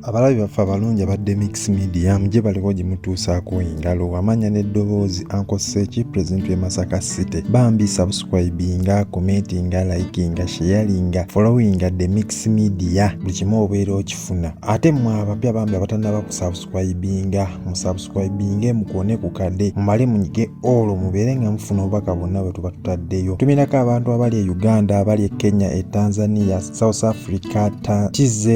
abalabi baffe abalungi abadde mix media mugye baliko gye mutuusaako engalo amanya n'eddoboozi ankoseeki pulezidenti w'e masaka city bambi subscribinga commentinga likinga sharinga followinga the mix media buli kimu obeera okifuna ate mwe abapya bambi abatanaba ku subscribinga musubscribinge mukuone ku kade mumale munyige olwo mubeere nga mufuna obubaka bonna bwe tuba tutaddeyo tumirako abantu abali e uganda abali e kenya e tanzania south africa ta tz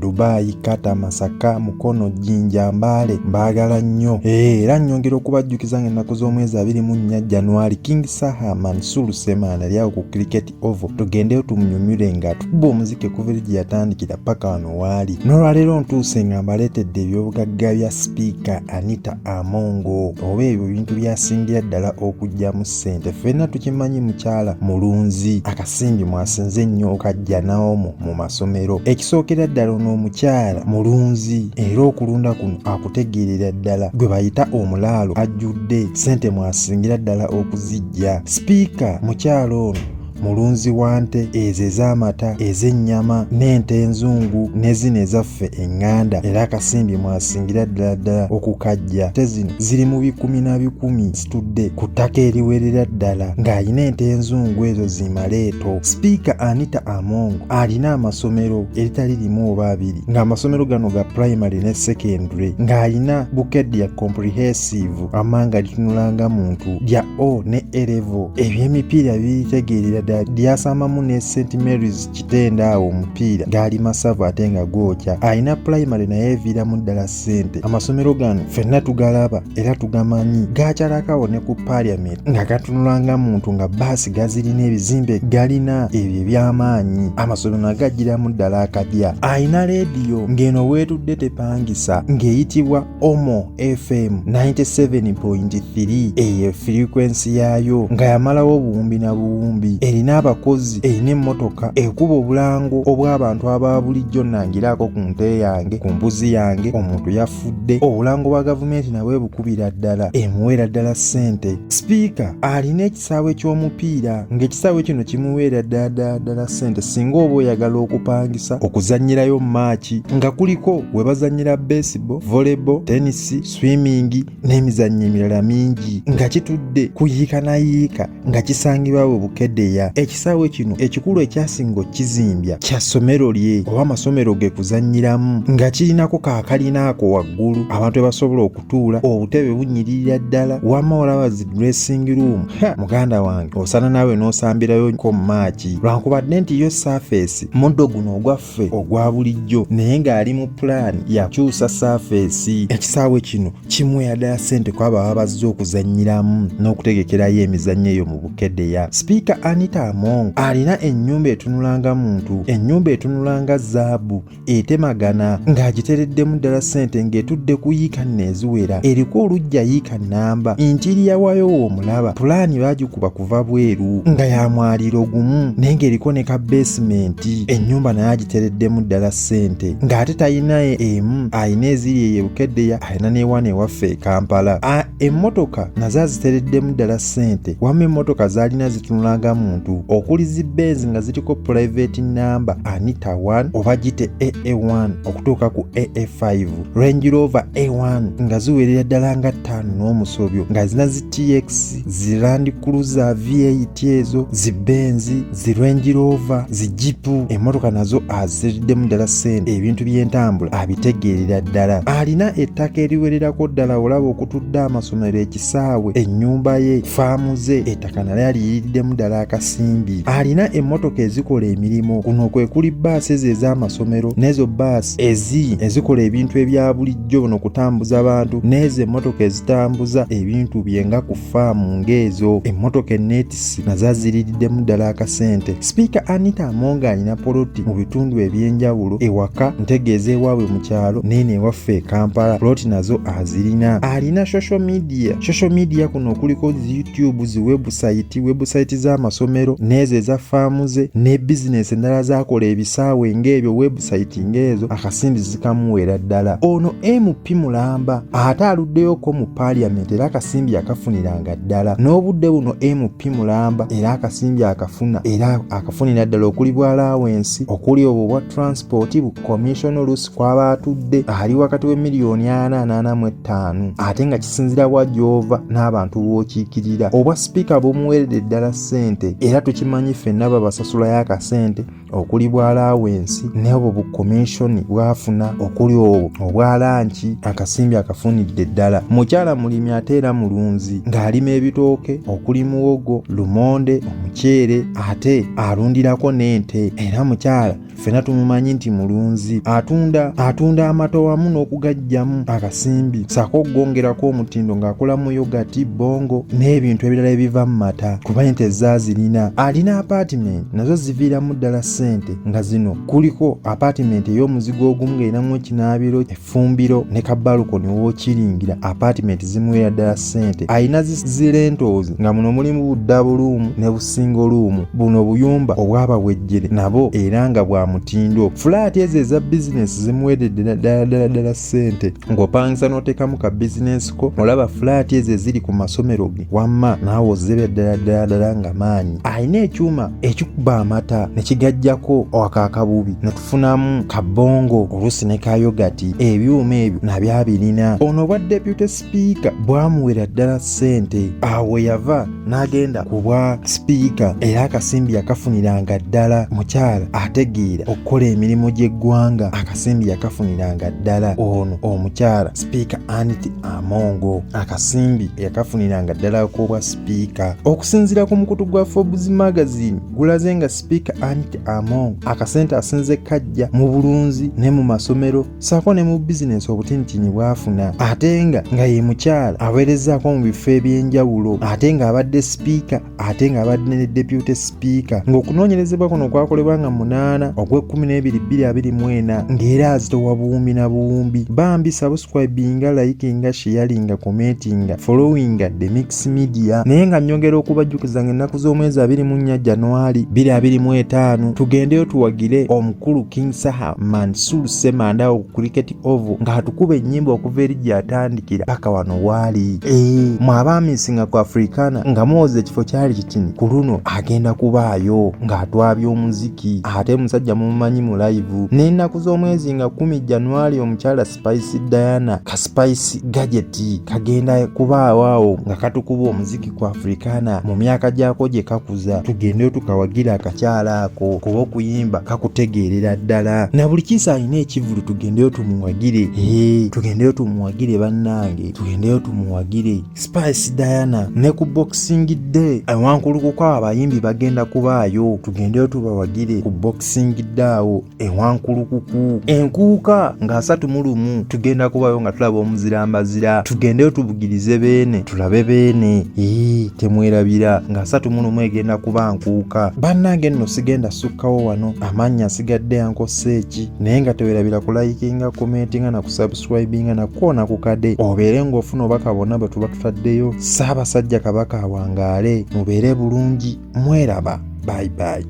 dubai kata masaka mukono jinja mbaale mbaagala nnyo eh, era nnyongera okubajjukiza nga ennaku z'omwezi abiri mu nnya januari king saha mansur semaana lyawo ku cricket ovu tugendeyo tumunyumire nga atukuba omuziki okuva eri gye yatandikira paka wano waali n'olwaleero ntuuse nga mbaleetedde ebyobugagga bya sipiika anita amongo oba ebyo bintu byasingira ddala okugyamu ssente ffenna tukimanyi mukyala mulunzi akasimbi mwasinze ennyo okajja naomu mu masomero ekisookera ddala ono omukyala mulunzi era okulunda kuno akutegeerera ddala gwe bayita omulaalo ajjudde ssente mwasingira ddala okuzijja Ssaabasajja sipiika mukyala ono mulunzi wa nte ezo ez'amata ez'ennyama n'ente enzungu ne zino ezaffe eŋŋanda era akasimbi mwasingira ddala ddala okukajja te zino ziri mu bikumi na bikumi zitudde ku ttaka eriwerera ddala ng'alina ente enzungu ezo zimaleeto sipiika anita among alina amasomero eritali limu oba abiri ng'amasomero gano ga primary ne secondary ng'alina bukedya comprehensive wamma nga litunula nga muntu lya o ne erevo ebyemipiira biritegeerera ddala lyasamamu ne st marys kitenda awo omupiira gaali masavu ate nga gwokya alina pulayimale naye eviiramu ddala ssente amasomero gano fenna tugalaba era tugamanyi gakyalakawo ne ku parliament nga gatunula nga muntu nga baasi gazirina ebizimbe galina ebyo ebyamaanyi amasomero nagajjiramu ddala akadya alina leediyo ng'eno weetudde tepangisa ng'eyitibwa omo fm 97.3 eyo firikwensi yaayo nga yamalawo obuwumbi na buwumbi erina abakozi erina emmotoka ekuba obulango obw'abantu aba bulijjo nangiraako ku nte yange ku mbuzi yange omuntu yafudde obulango bwa gavumenti nabwe bukubira ddala emuweera ddala ssente sipiika alina kisaawe ky'omupiira ng'ekisaawe kino kimuweera ddala ssente singa oba oyagala okupangisa okuzannyirayo maaki nga kuliko we bazannyira baseball volleyball tenisi swimming n'emizannyo emirala mingi nga kitudde kuyiika na yiika nga kisangibwa we bukedeya ekisaawe kino ekikulu ekyasinga okukizimbya kya ssomero lye oba amasomero ge kuzannyiramu nga kirinako kaakalina ako waggulu abantu ebasobola oku okutuula obutebe bunyiririra ddala wama olaba zi dressing room ha muganda wange osana naawe n'osambirayo ko maaki lwankubadde nti yo saafeesi muddo guno ogwaffe ogwa bulijjo naye ng'ali mu pulaani yakyusa saafeesi ekisaawe kino kimweyadala ssente kwabo aba bazze okuzannyiramu n'okutegekerayo emizannyo eyo mu bukedeya sipiika anita among alina ennyumba etunulanga muntu ennyumba etunulanga zaabu etemagana ng'agitereddemu ddala ssente ng'etudde ku yiika nno eziwera eriko olujja yiika nnamba intiiriya waayo woomulaba pulaani baagikuba kuva bweru nga ya mwaliro gumu naye ng'eriko ne ka beesimenti ennyumba naye agitereddemu ddala ssente ng'ate talina emu alina eziri eyo ebukeddeya alina n'ewana ewaffe e kampala Emmotoka nazo azitereddemu ddala ssente wamma emmotoka zaalina zitunula nga muntu okuli zi Benz nga ziriko pulaiveeti nnamba Anita 1 oba gite AA1 okutuuka ku AA5 Range Rover A1 nga ziwerera ddala nga ttaano n'omusobyo nga zina zi TX zi Land Cruiser V8 ezo zi Benz zi Range Rover, zi jipu, emmotoka nazo aziriddemu ddala ssente, ebintu by'entambula abitegeerera ddala. Alina ettaka eriwererako ddala olaba okutudde amasomero, ekisaawe, ennyumba ye, faamu ze, ettaka nalyo aliyiriddemu ddala akasimbi. Alina emmotoka ezikola emirimu, kuno kwe kuli bbaasi ezo ez'amasomero n'ezo bbaasi ezi ezikola ebintu ebya bulijjo, no kutambuza bantu, n'ezo emmotoka ezitambuza ebintu bye nga ku faamu ng'ezo emmotoka enneetisi na zaaziriiriddemu ddala akasente sipiika anita amonga alina poloti mu bitundu eby'enjawulo ewaka ntegeeza ewaabwe mu kyalo neeno ewaffe e kampala poloti nazo azirina alina social media social media kuno okuliko zi youtube zi webusayiti webusayiti z'amasomero n'ezo eza faamu ze ne bizinesi endala zaakola ebisaawe ng'ebyo webusayiti ng'ezo akasindiz kamuweera ddala ono mp mulamba ate aluddeyoko mu parliament era akasimbi akafuniranga ddala n'obudde buno mp mulamba era akasimbi akafuna era akafunira ddala okuli bwalawensi okuli obwo bwa transport bu commission olusi kwaba atudde ali wakati we miliyoni ana anaana mu ettaano ate nga kisinzira wa gyova n'abantu b'okiikirira obwa sipiika bumuweredde ddala ssente era tukimanyi ffenna babasasulayo akasente okuli bwa laawensi n'obwo bu komishoni bwafuna okuli obwo obwa lanki akasimbi akafunidde ddala mukyala mulimi ate era mulunzi ng'alima ebitooke okuli muwogo lumonde omuceere ate alundirako n'ente era mukyala ffena tumumanyi nti mulunzi atunda atunda amato wamu n'okugajjamu akasimbi saako okugongerako omutindo ng'akola mu yogati bongo n'ebintu ebirala ebiva mu mata kuba ente zaazirina alina apaatimenti nazo ziviiramu ddala ssente nga zino kuliko apaatimenti ey'omuzigo ogumu ng'erinamu ekinaabiro effumbiro ne kabalukoni wookiringira apaatimenti zimuweera ddala ssente alina zirentoozi nga muno mulimu buddabu luumu ne busingo luumu buno obuyumba obwabawejjere nabo era nga bwa mutindo fulaati ezo eza bizinesi zimuweeredde ddala ddala ddala sente ng'opangisa n'oteekamu ka bizinensi ko olaba fulaati ezo eziri ku masomero ge wamma naawe ozebe ddala ddala ddala nga maanyi alina ekyuma ekikuba amata ne kigajjako akaakabubi ne tufunamu kabongo oluusi ne kayogati ebyuma ebyo nabyabirina ono obwa deputy sipiika bwamuwera ddala ssente awo yava n'agenda ku bwa sipiika era akasimbi yakafuniranga ddala mukyala ategeera okukola emirimu gy'eggwanga akasimbi yakafuniranga ddala ono omukyala sipiika aniti amongo akasimbi yakafuniranga ddala ak'obwa sipiika okusinziira ku mukutu gwa forbes magazine gulaze nga sipiika aniti amongo akasente asinze kajja mu bulunzi ne mu masomero saako ne mu bizinensi obutinyitiinyi bwafuna ate nga nga ye mukyala aweerezaako mu bifo eby'enjawulo ate ng'abadde sipiika ate nga abadde ne deputy speaker ng'okunoonyerezebwa kuno kwakolebwa nga munaana ogw'ekkumi n'ebiri bbiri abiri mu ena ng'era azitowa buwumbi na buwumbi bambi subscribinga likinga sharinga commentinga followinga the mix media naye nga nyongera okubajjukiza nga ennaku z'omwezi abiri mu nnya januari bbiri abiri mu etaano tugendeyo tuwagire omukulu king saha mansur semanda oku cricket ovu nga atukuba ennyimba okuva eri gyatandikira paka wano waali ee eh, mwabaamisinga ku afrikana nga mwoza ekifo kyali kitini ku luno agenda kubaayo ng'atwabya omuziki ate musajja mumumanyi mu layivu n'ennaku z'omwezi nga kumi januari omukyala spice diana ka spice gajeti kagenda kubaawo awo nga katukuba omuziki ku afrikaana mu myaka gyako gye kakuza tugende tukawagira akakyala ako kuba okuyimba kakutegeerera ddala na buli kiisa alina ekivulu tugendeyo tumuwagire ee tugendeyo tumuwagire bannange tugendeyo tumuwagire spice diana ne ku boxing day awankulukuko abayimbi bagenda kubaayo tugendeyo tubawagire ku boxing day awo ewankulukuku enkuuka nga asatu mu lumu tugenda kubayo nga tulaba omuzira mbazira tugendeyo tubugirize beene tulabe beene ee temwerabira nga asatu mu lumu egenda kuba nkuuka bannange nno sigenda sukkawo wano amannya asigadde yankossa eki naye nga tewerabira kulayikinga komentinga na kusubscribinga nakukoona ku kade obeere ng'ofuna obubaka bwonna bwe tuba tutaddeyo saabasajja kabaka awangaale mubeere bulungi mweraba bye bye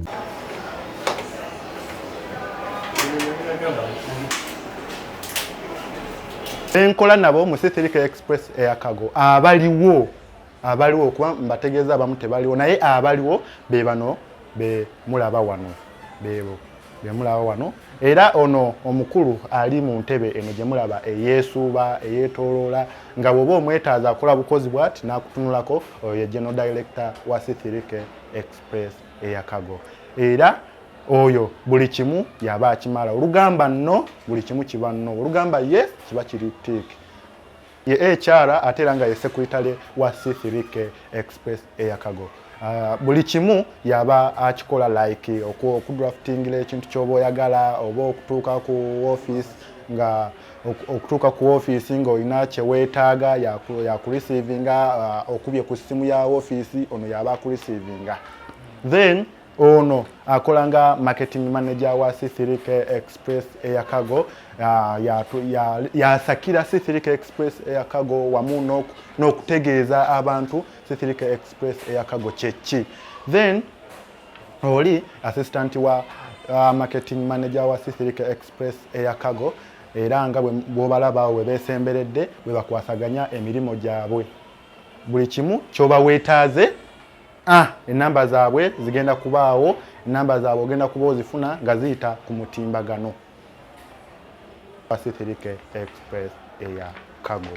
enkola nabo mu Sithilika Express Air Cargo abaliwo abaliwo kuba mbategeeza abamu tebaliwo naye abaliwo be bano be mulaba wano beebo be mulaba wano era ono omukulu ali mu ntebe eno gye mulaba eyeesuuba eyeetooloola nga bw'oba omwetaaza akola bukozi bwati n'akutunulako oyo ye general director wa Sithilika Express eyakago era oyo buli kimu yaba akimala olugamba no buli kimu kiba no olugamba ye kiba kiri tik ye ekyara ate era nga ye sekuritale wa c3k express eyakago Ah, buli kimu yaba akikola like okudraftingila ekintu kyoba oyagala oba okutuuka ku office nga okutuuka ku ofiisi ng'olina kyeweetaaga yakurisiivinga uh, okubye ku ssimu ya ofiisi ono yaba akurisiivinga then ono akola nga marketing manager wa c3k express eyakago uh, yasakira c3k express eyakago wamu n'okutegeeza abantu c3k express eyakago kyeki then oli assistant wa uh, marketing manager wa c3k express Press Air Cargo era nga bw'obalaba awo we beesemberedde bwe bakwasaganya emirimu gyabwe buli kimu ky'oba weetaaze ah, ennamba zaabwe zigenda kubaawo ennamba zaabwe ogenda kuba ozifuna nga ziyita ku mutimbagano Pacific Express Air Cargo